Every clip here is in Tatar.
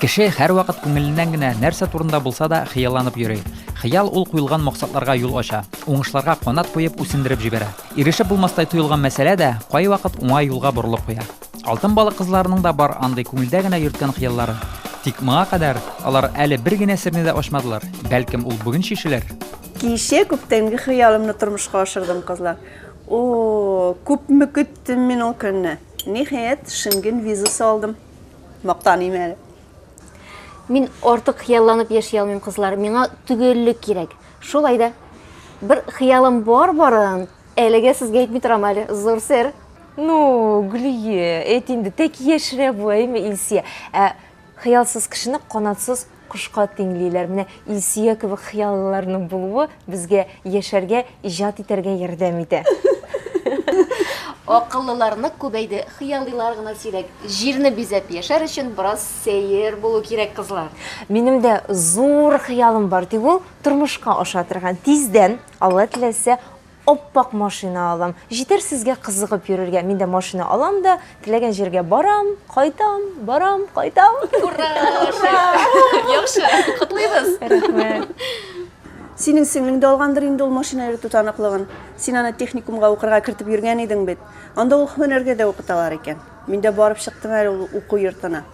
Кеше һәрвакыт күңеленнән генә нәрсә турында булса да хыялланып йөри. Хыял ул куелган максатларга юл ача, уңышларга канат куеп үсендереп җибәрә. Ирешеп булмастай тоелган мәсьәлә дә кайвакыт уңай юлга борылып куя. Алтын балык кызларының да бар андый күңелдә генә йөрткән хыяллары. Тик моңа кадәр алар әле бер генә серне дә ачмадылар. Бәлкем ул бүген чишелер? Кичә күптәнге хыялымны тормышка ашырдым, кызлар. О, күпме көттем мин ул көнне! Ниһаять, Шенген визасы алдым. Мактаныйм әле. Мин артык хыялланып яши алмыйм, кызлар. Миңа төгәллек кирәк. Шулай да бер хыялым бар барын әлегә сезгә әйтми торам әле. Зур сер. Ну, Гүлие, әйт инде, тәки яшерә бу, әйме Илсия? Ә хыялсыз кешене канатсыз Кошка тиңлиләр. Менә Илсөя кебек хыяллыларның булуы безгә яшәргә, иҗат итәргә ярдәм итә. Акыллылар нык күбәйде, хыялыйлар гына сирәк. Җирне бизәп яшәр өчен бераз сәер булу кирәк, кызлар. Минем дә зур хыялым бар, тик ул тормышка аша торган. Тиздән, Алла теләсә, Ап-ак машина алам. Җитәр сезгә кызыгып йөрергә. Мин дә машина алам да, теләгән җиргә барам, кайтам, барам, кайтам. Ура! Яхшы, котлыйбыз! Рәхмәт. Синең сеңлең дә алгандыр инде ул машина йөртү таныклыгын. Син аны техникумга укырга кертеп йөргән идең бит. Анда ул һөнәргә дә укыталар икән. Мин дә барып чыктым әле ул уку йортына.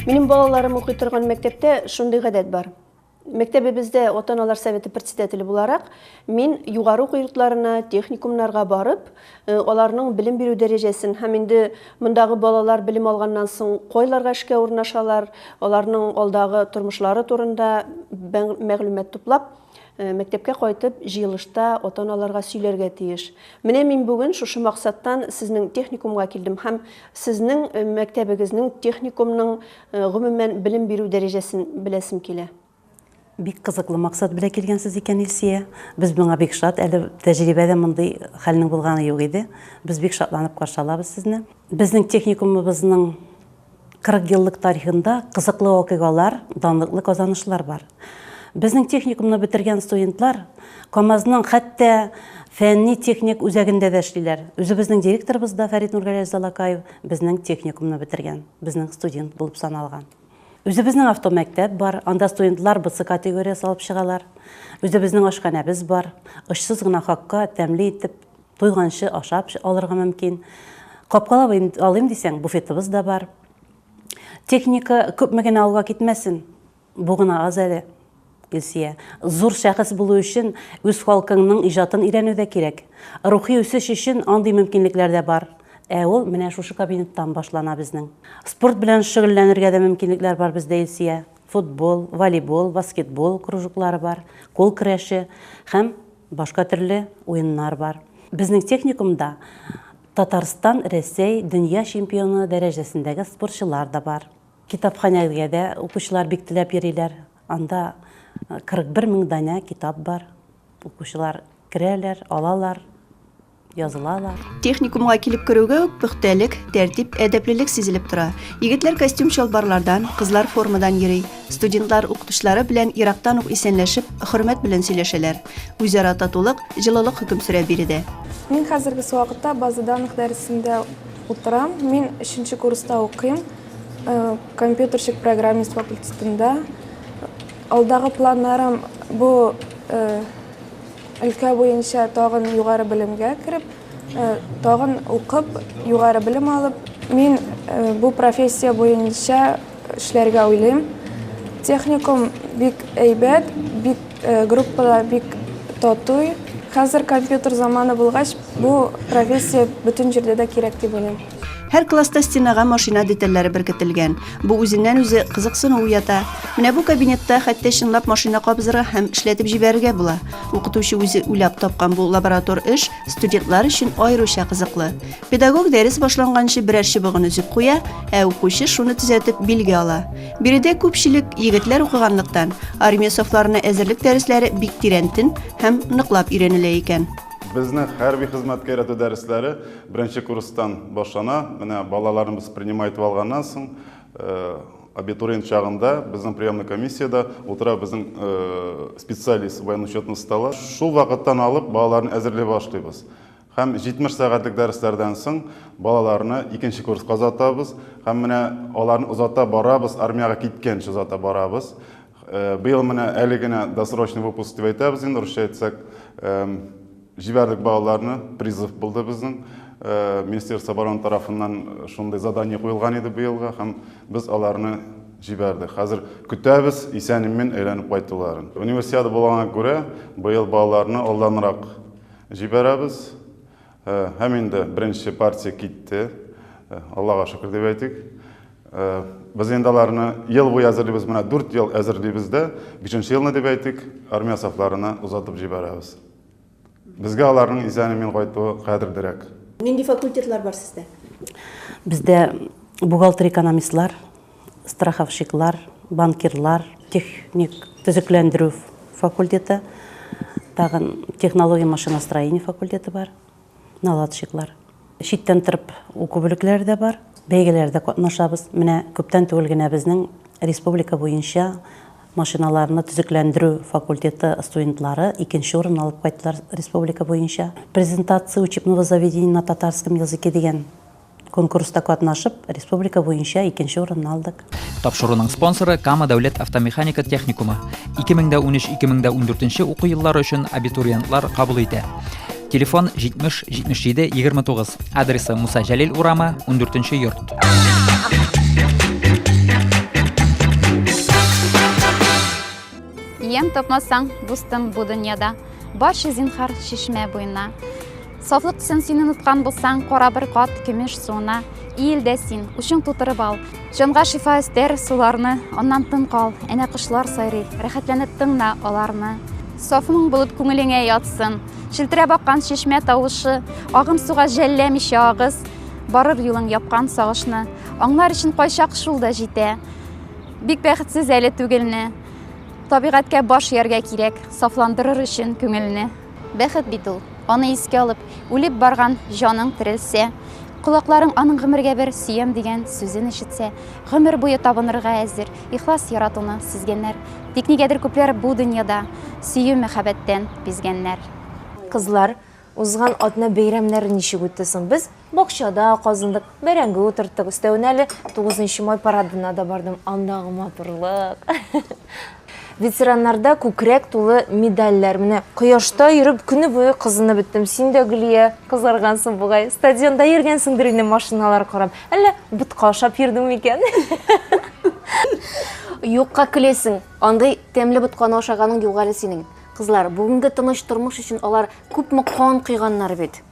Минем балаларым укый торган мәктәптә шундый гадәт бар. Мәктәбебездә ата-аналар советы председателе буларак, мин югары уку йортларына, техникумнарга барып, э, аларның белем бирү дәрәҗәсен һәм инде мондагы балалар белем алганнан соң кайларга эшкә урнашалар, аларның алдагы тормышлары турында мәгълүмат туплап, Э, мәктәпкә кайтып җыелышта ата аналарга сөйләргә тиеш менә мин бүген шушы максаттан сезнең техникумга килдем һәм сезнең э, мәктәбегезнең техникумның э, гомумән белем бирү дәрәҗәсен беләсем килә бик кызыклы максат белән килгәнсез икән илсия без моңа бик шат әле тәҗрибәдә мондый хәлнең булганы юк иде без бик шатланып каршы алабыз сезне безнең техникумыбызның 40 еллык тарихында кызыклы вакыйгалар, данлыклы казанышлар бар. Безнең техникумны бетергән студентлар КАМАЗның хәтта фәнни-техник үзәгендә дә эшлиләр. Үзебезнең директорыбыз да Фәрит Нургәләевич Залакаев безнең техникумны бетергән, безнең студент булып саналган. Үзебезнең автомәктәп бар, анда студентлар БЦ категориясе алып чыгалар. Үзебезнең ашханәбез бар, очсыз гына хакка тәмле итеп Туйганчы ашап алырга мөмкин. Капкалап алыйм дисәң, буфетыбыз да бар. Техника күпме генә алга китмәсен, бу гына аз әле. Илсия. Зур шәхес булу өчен үз халкыңның иҗатын өйрәнү дә кирәк. Рухи үсеш өчен андый мөмкинлекләр дә бар. Ә ул менә шушы кабинеттан башлана безнең. Спорт белән шөгыльләнергә дә мөмкинлекләр бар бездә, Илсия. Футбол, волейбол, баскетбол кружоклары бар, кул көрәше һәм. Башка төрле уеннар бар. Безнең техникумда Татарстан, Рәсәй, дөнья чемпионы дәрәҗәсендәге спортчылар да бар. Китапханәгә дә укучылар бик теләп йөриләр. Анда 41 мең данә китап бар. Укучылар керәләр, алалар. язылалар. Техникумга килеп керүгә үк пөхтәлек, тәртип, әдәплелек сизелеп тора. Егетләр костюм-чалбарлардан, кызлар формадан йөри. Студентлар укытучылары белән ерактан ук исәнләшеп, хөрмәт белән сөйләшәләр. Үзара татулык, җылылык хөкем сөрә биредә. Мин хәзергесе вакытта база данных дәресендә утырам. Мин өченче курста укыйм. Э, Компьютерщик-программист факультетында. Алдагы планнарым бу э, Өлкә буенча тагын югары белемгә кереп, тагын укып, югары белем алып. Мин бу профессия буенча эшләргә уйлыйм. Техникум бик әйбәт, бик группада бик татуй. Хәзер компьютер заманы булгач, бу профессия бөтен җирдә дә кирәк дип уйлыйм. Һәр класста стенага машина детальләре беркетелгән. Бу үзеннән-үзе кызыксыну уята. Менә бу кабинетта хәтта чынлап машина кабызырга һәм эшләтеп җибәрергә була. Укытучы үзе уйлап тапкан бу лаборатор эш студентлар өчен аеруча кызыклы. Педагог дәрес башланганчы берәр чыбыгын өзеп куя, ә укучы шуны төзәтеп билге ала. Биредә күпчелек егетләр укыганлыктан, армия сафларына әзерлек дәресләре бик тирәнтен һәм ныклап өйрәнелә икән. Безнең хәрби хезмәткә өйрәтү дәресләре Беренче курстан башлана. Менә балаларыбыз принимай итеп алганнан соң, абитуриент чагында безнең приемный комиссиядә утыра безнең специалист, военноучетный стала. Шул вакыттан алып балаларны әзерли башлыйбыз. Һәм 70 сәгатьлек дәресләрдән соң балаларны икенче курска озатабыз. Һәм менә аларны озата барабыз, армиягә киткәнче озата барабыз. Быел менә әле генә досрочный выпуск дип әйтәбез инде, русча әйтсәк. Җибәрдек балаларны, призыв булды безнең. Э, Министерство обороны тарафыннан шундый задание куелган иде быелга һәм без аларны җибәрдек. Хәзер көтәбез, исән-имин әйләнеп кайтуларын. Универсиада булганга күрә, быел балаларны алданрак җибәрәбез. Э, һәм инде беренче партия китте. Э, Аллага шөкер дип әйтик. Э, Без инде аларны ел буе әзерлибез, менә 4 ел әзерлибез дә, 5 елны дип әйтик, армия сафларына озатып җибәрәбез. Безгә аларның исән-имин кайтуы кадердерәк. Нинди факультетлар бар сездә? Бездә бухгалтер-экономистлар, страховщиклар, банкирлар, техник төзекләндерү факультеты, тагын технология машиностроения факультеты бар. наладчиклар. Читтән торып уку бүлекләре дә бар. Бәйгеләрдә катнашабыз. Менә күптән түгел генә безнең республика буенча машиналарны төзекләндерү факультеты студентлары икенче урын алып кайттылар республика буенча. Презентация учебного заведения на татарском языке дигән Конкурста катнашып, республика буенча икенче урынны алдык. Тапшыруның спонсоры Кама дәүләт автомеханика техникумы. 2013-2014 уку еллары өчен абитуриентлар кабул итә. Телефон 70 77 29. Адресы Муса Җәлил урамы, 14 йорт. Ем тапмасаң, дустым бу дөньяда, барча зинхар чишмә буена. Сафлык өчен син оныткан булсаң, кара бер кат көмеш суына иел дә син, учың тутырып ал. Җанга шифа өстәр суларны, аннан тын кал, әнә кошлар сайрый, рәхәтләнеп тыңна аларны. Саф моң булып күңелеңә ятсын, челтерәп аккан чишмә тавышы, агым суга жәлләмичә агыз, барыр юлың япкан сагышны. Аңлар өчен кайчак шул да җитә. Бик бәхетсез әле түгелне. Табигатькә баш ияргә кирәк, сафландырыр өчен күңелне. Бәхет бит ул, аны искә алып, үлеп барган җаның терелсә, колакларың аның гомергә бер сөям дигән сүзен ишетсә, гомер буе табынырга әзер, ихлас яратуны сизгәннәр. Тик нигәдер күпләр бу дөньяда сөю-мәхәббәттән бизгәннәр. Кызлар, узган атна бәйрәмнәре ничек үтте соң? Без. Бакчада казындык, бәрәңге утырттык. Өстәвенә әле 9 май парадына да бардым. Андагы матурлык. Ветераннарда күкрәк тулы медальләр. Менә кояшта йөреп көне буе кызынып беттем. Син дә Гөлия кызаргансың бугай. Стадионда йөргәнсеңдер инде машиналар карап. Әллә ботка ашап йөрдең микән? Юкка көлесең. Андый тәмле ботканы ашаганың юк әле синең. Кызлар, бүгенге тыныч тормыш өчен алар күпме кан койганнар бит.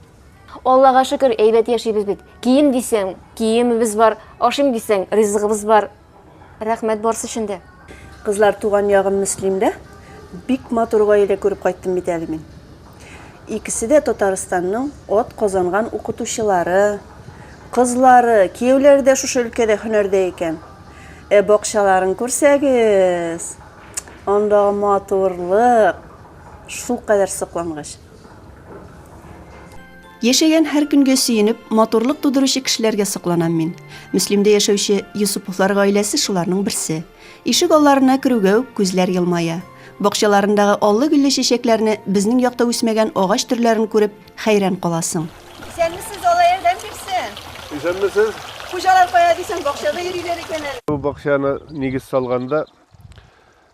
Аллага шөкер, әйбәт яшибез бит. Кием дисәң, киемебез бар, ашыйм дисәң, ризыгыбыз бар. Рәхмәт барсы өчен дә. Кызлар, туган ягым Мөслимдә бик матур гаилә күреп кайттым бит әле мин. Икесе дә Татарстанның ат казанган укытучылары, кызлары, кияүләре дә шушы өлкәдә һөнәрдә икән. Ә бакчаларын күрсәгез, андагы матурлык шулкадәр соклангач. Яшәгән һәр көнгә сөенеп, матурлык тудыручы кешеләргә сокланам мин. Мөслимдә яшәүче Юсуповлар гаиләсе шуларның берсе. Ишек алларына керүгә үк күзләр елмая. Бакчаларындагы аллы-гөлле чәчәкләрне, безнең якта үсмәгән агач төрләрен күреп, хәйран каласың. Исәнмесез, Алла ярдәм бирсен! Исәнмесез! Хуҗалар кая дисәң, бакчада йөриләр икән әле. Бу бакчаны нигез салганда,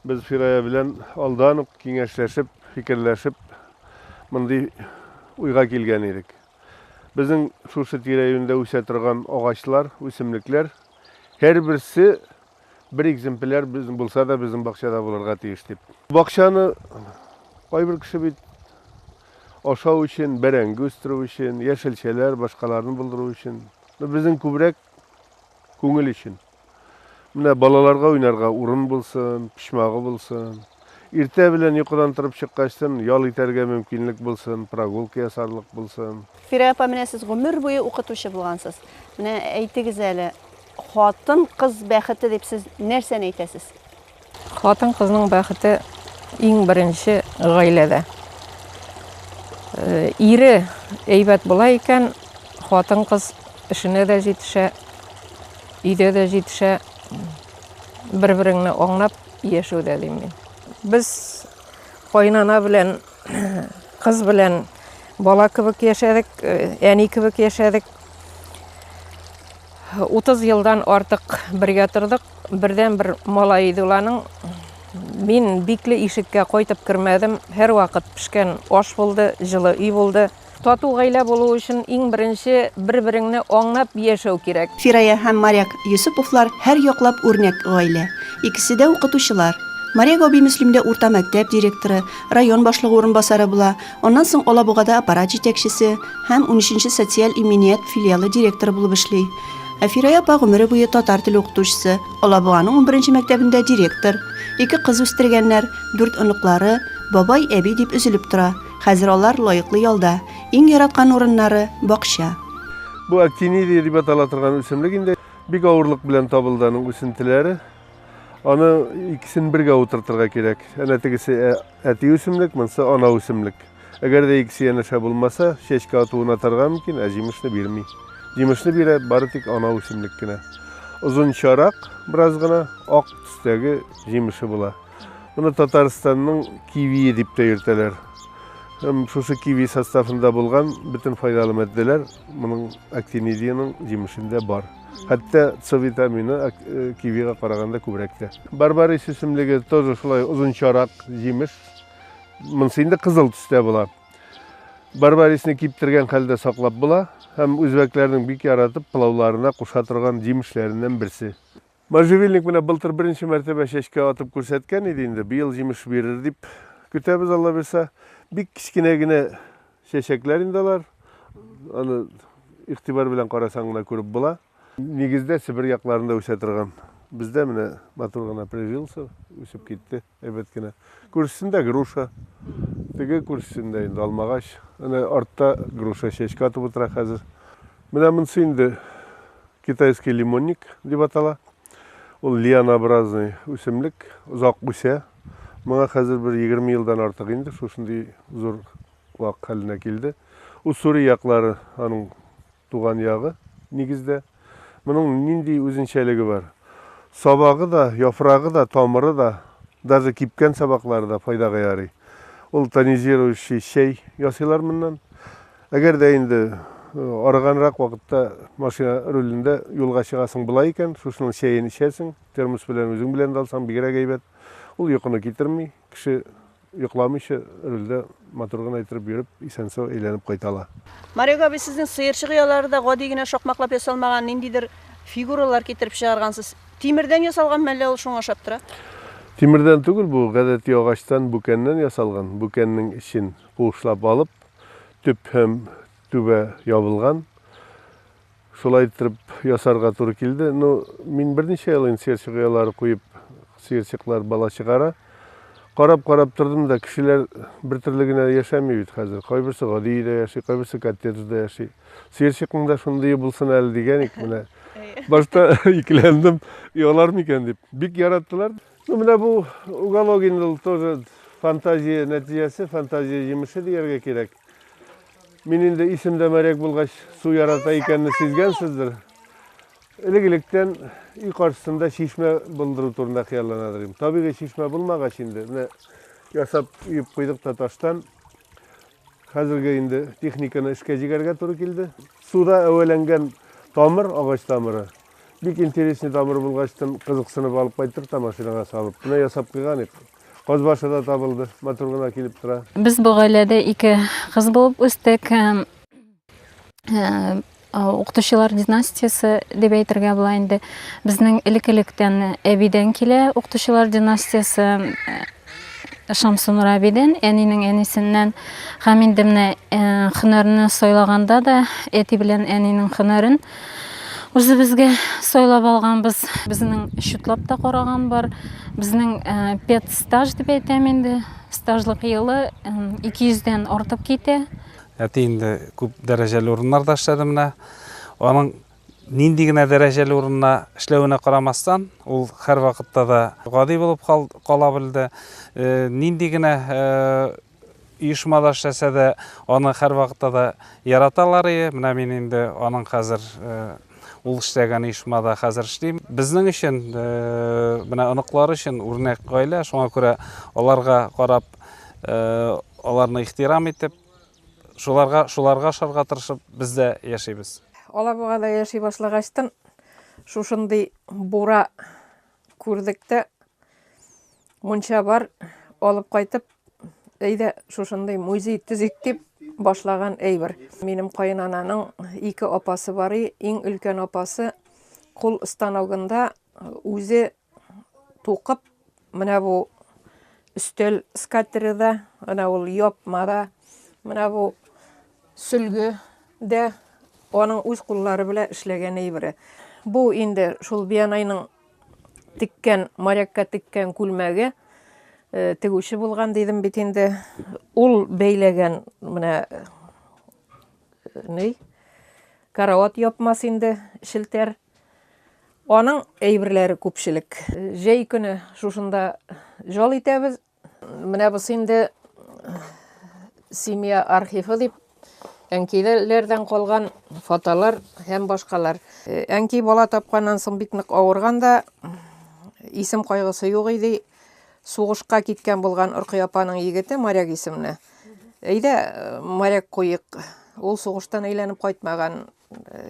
Без Фирая белән алдан ук киңәшләшеп, фикерләшеп, мондый уйга килгән идек. Безнең шушы тирә-юньдә үсә торган агачлар, үсемлекләр һәрберсе бер экземпляр безнең булса да безнең бакчада булырга тиеш дип. Бакчаны кайбер кеше бит ашау өчен, бәрәңге үстерү өчен, яшелчәләр, башкаларны булдыру өчен. Безнең күбрәк күңел өчен. Менә балаларга уйнарга урын булсын, почмагы булсын. Иртә белән йокыдан торып чыккачтын ял итәргә мөмкинлек булсын, прогулка ясарлык булсын. Фирә апа, менә сез гомер буе укытучы булгансыз. Менә әйтегез әле, хатын-кыз бәхете дип сез нәрсәне әйтәсез? Хатын кызның бәхете иң беренче гаиләдә. Э, ире әйбәт була икән, хатын кыз эшенә дә җитешә, өйдә дә җитешә, бер-береңне аңлап яшәүдә дим мин. Без кайнана белән, кыз белән бала кебек яшәдек, э, әни кебек яшәдек. 30 елдан артык бергә тордык. Бердән-бер малай иде ул аның. Мин бикле ишеккә кайтып кермәдем. Һәрвакыт пешкән аш булды, җылы өй булды. Тату гаилә булу өчен иң беренче бер-береңне аңлап яшәү кирәк. Фирая һәм Маряк Йосыповлар һәр яклап үрнәк гаилә. Икесе дә укытучылар. Маряк абый Мөслимдә урта мәктәп директоры, район башлыгы урынбасары була. Аннан соң Алабугада аппарат җитәкчесе һәм 13-нче социаль иминият филиалы директоры булып эшли. Ә Фирая апа гомере буе татар теле укытучысы, Алабуганың 11-нче мәктәбендә директор. Ике кыз үстергәннәр, дүрт оныклары, бабай, әби дип өзелеп тора. Хәзер алар лаеклы ялда, иң яраткан урыннары, бакча. Бу актинидия дип атала торган үсемлек инде. Бик авырлык белән табылды аның үсентеләре. Аны икесен бергә утыртырга кирәк. Әнә тегесе э, Әти үсемлек, монсы ана үсемлек. Әгәр дә икесе янәшә булмаса, чәчкә атуын атарга мөмкин, ә җимешне бирми. Җимешне бирә бары тик ана үсемлек кенә. Озынчарак, бераз гына ак төстәге җимеше була. Моны Татарстанның кивие дип тә йөртәләр. Һәм шушы киви составында булган бөтен файдалы матдәләр моның актинидиянең җимешендә бар. Хәтта С витамины э, кивига караганда күбрәк тә. Барбарис исемлеге тоже шулай озынчарак җимеш. Монысы инде кызыл төстә була. Барбарисны киптергән хәлдә саклап була һәм үзбәкләрнең бик яратып пылауларына куша торган җимешләреннән берсе. Можжевельник менә былтыр беренче мәртәбә чәчкә атып күрсәткән иде инде. Быел җимеш бирер дип көтәбез, Алла бирса. Бик кечкенә генә Чәчәкләр инде алар. Аны игътибар белән карасаң гына күреп була. Нигездә Себер якларында үсә торган. Бездә менә матур гына прижился, үсеп китте, әйбәт кенә. Күршесендә груша. Теге күршесендә инде алмагач. Әнә артта груша чәчкә атып утыра хәзер. Менә монысы инде китайский лимонник дип атала. Ул лианообразный үсемлек, озак үсә. Моңа хәзер бер 20 елдан артык инде шушындый зур вак хәленә килде. Уссури яклары аның туган ягы нигездә. Моның нинди үзенчәлеге бар? Сабагы да, яфрагы да, тамыры да, даже кипкән сабаклары да файдага ярый. Ул тонизирующий чәй ясыйлар моннан. Әгәр дә инде арыганрак вакытта машина рулендә юлга чыгасың була икән, шушының чәен эчәсең, термос белән үзең белән дә алсаң бигрәк әйбәт. Ул йокыны китерми, кеше йокламыйча рульдә матур гына иттереп йөреп, исән-сау әйләнеп кайта ала. Марек абый, сезнең сыерчык оялары да гади генә шакмаклап ясалмаган, ниндидер фигуралар китереп чыгаргансыз. Тимердән ясалганмы, әллә ул шуңа ошап тора? Тимердән түгел бу, гадәти агачтан, бүкәннән ясалган. Бүкәннең эчен куышлап алып, төп һәм түбә ябылган. Шулай итеп ясарга туры килде. Ну, мин берничә ел инде сыерчык оялары куеп, сыерчыклар бала чыгара. Карап-карап тордым да, кешеләр бер төрле генә яшәми бит хәзер. Кайберсе гади өйдә яши, кайберсе коттеджда яши. Сыерчыкның да шундый булсын әле дигән ик менә. Башта икеләндем, оялар микән дип. Бик яраттылар. Ну, менә бу уголок инде ул тоже фантазия нәтиҗәсе, фантазия җимеше дияргә кирәк. Мин инде исемдә моряк булгач, су ярата икәнне сизгәнсездер. Элек-электән өй каршысында чишмә булдыру турында хыялланадыр идем. Табигый чишмә булмагач инде, менә ясап өеп куйдык та таштан. Хәзергә инде техниканы эшкә җигәргә туры килде. Суда әвәләнгән тамыр, агач тамыры. Бик интересный тамыр булгачтын, кызыксынып алып кайттык та машинага салып. Менә ясап куйган ик. Казбашы да табылды, матур гына килеп тора. Без бу гаиләдә ике кыз булып үстек. укытучылар династиясе дип әйтергә була инде безнең элекелектән әбидән килә укытучылар династиясе шамсунура әбидән әнинең әнисеннән һәм инде менә һөнәрне сайлаганда да әти белән әнинең һөнәрен үзебезгә сайлап алганбыз безнең счетлап та караган бар безнең педстаж дип әйтәм инде стажлык елы 200 дән артып китә Әти инде күп дәрәҗәле урыннарда эшләде менә. Аның нинди генә дәрәҗәле урында эшләвенә карамастан, ул һәр вакытта да гади булып кала белде. Э, нинди генә э, оешмада эшләсә дә, аны һәр вакытта да яраталар ие. Менә мин инде аның хәзер э, Ул эшләгән оешмада хәзер эшлим. Безнең өчен, менә оныклар өчен үрнәк гаилә, шуңа күрә аларга карап, аларны ихтирам итеп, шуларга шуларга ашарга тырышып, без дә яшибез. Алабугада яши башлагачтын, шушындый бура Күрдек тә, мунча бар, алып кайтып, әйдә шушындый музей төзик дип башлаган әйбер. Минем каенананың ике апасы бар, иң өлкән апасы кул станогында үзе тукып, менә бу өстәл скатеры да, менә ул япма да, менә бу Сөлге дә аның үз куллары белән эшләгән әйбере. Бу инде шул Биянайның теккән, морякка теккән күлмәге э, тегүче булган дидем бит инде. Ул бәйләгән менә э, ни? Карават япмас инде шелтәр. Аның әйберләре күпчелек. Җәй көне шушында жол итәбез, Менә бусы инде семья архивы дип әнкиләрдән калган фотолар һәм башкалар. Әнки бала тапканнан соң бик нык авырган да, исем кайгысы юк иде. Сугышка киткән булган Оркый апаның егете Моряк исемле. Әйдә, моряк куйык. Ул сугыштан әйләнеп кайтмаган.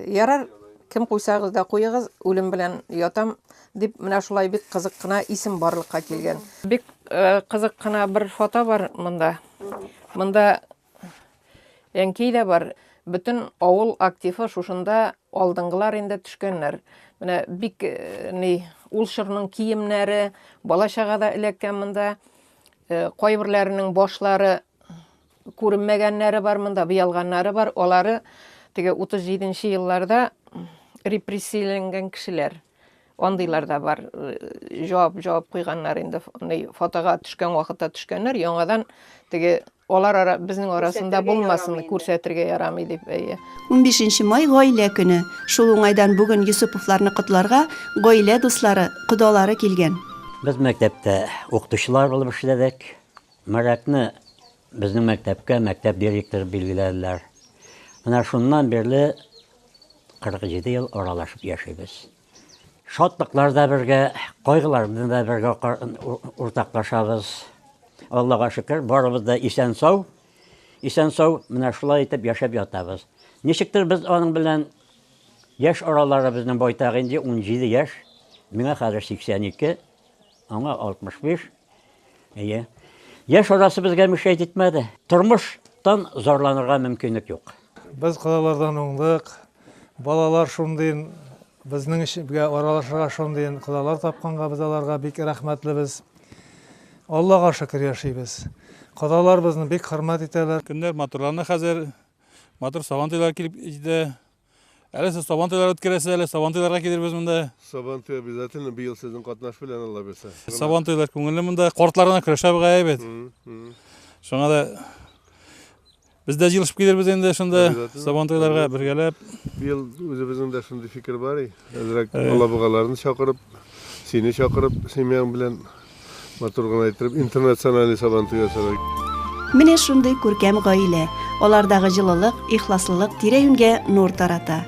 Ярар, кем куйсагыз да куегыз, үлем белән ятам, дип менә шулай бик кызык кына исем барлыкка килгән. Бик кызык кына бер фото бар монда. Монда әнкәй дә бар. Бөтен авыл активы шушында алдынгылар инде төшкәннәр. Менә бик ни ул чорның киемнәре, бала чага да эләккән монда. Кайберләренең башлары Күренмәгәннәре бар монда, быялганнары бар. Алары теге 37 нче елларда репрессияләнгән кешеләр. Андыйлар да бар. Җавап, җавап куйганнар инде. Андый фотога төшкән вакытта төшкәннәр. Яңадан теге алар ара, безнең арасында булмасын, күрсәтергә ярамый дип. Әйе. 15 нче май, гаилә көне. Шул уңайдан бүген Йосыповларны котларга гаилә дуслары, кодалары килгән. Без мәктәптә укытучылар булып эшләдек. Марәтне безнең мәктәпкә мәктәп директоры билгеләделәр. Менә шуннан бирле 47 ел аралашып яшибез. Шатлыклар да бергә, кайгыларны да бергә уртаклашабыз. Аллага шөкер, барыбыз да исән-сау. Исән-сау менә шулай итеп яшәп ятабыз. Ничектер без аның белән яшь аралары безнең байтак инде, 17 яшь. Миңа хәзер 82, аңа 65. Әйе. Яшь арасы безгә мешәйт итмәде. Тормыштан зарланырга мөмкинлек юк. Без кодалардан уңдык. Балалар шундый безнең эшгә аралашырга шундый кодалар тапканга без аларга бик рәхмәтлебез. Аллага шөкер яшибез. Кодалар безне бик хөрмәт итәләр. Көннәр матурланды хәзер. Матур Сабантуйлар килеп җитә. Әле сез сабан туйлары үткәрәсез, әле сабан туйларга килербез монда. Сабан туй обязательно быел сезнең катнаш белән Алла бирсә. Сабан туйлар күңелле монда. Кортларына көрәшә бу әйбәт. Шуңа да без дә җыелышып килербез инде шунда сабан туйларга бергәләп. Быел үзебезнең дә шундый фикер бар и. Әзрәк алабугаларны чакырып, сине чакырып, семьяң белән Матур гына иттереп, интернациональный сабантуй ясарга. Менә шундый күркәм гаилә, алардагы җылылык, ихласлылык тирә-юньгә нур тарата.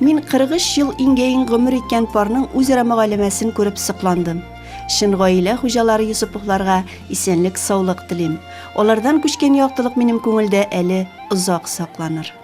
Мин 43 ел иңгәен гомер иткән парның үзара мөгаләмәсен күреп сокландым. Чын гаилә хуҗалары Йосыповларга исәнлек-саулык телим. Алардан күчкән яктылык минем күңелдә әле озак сакланыр.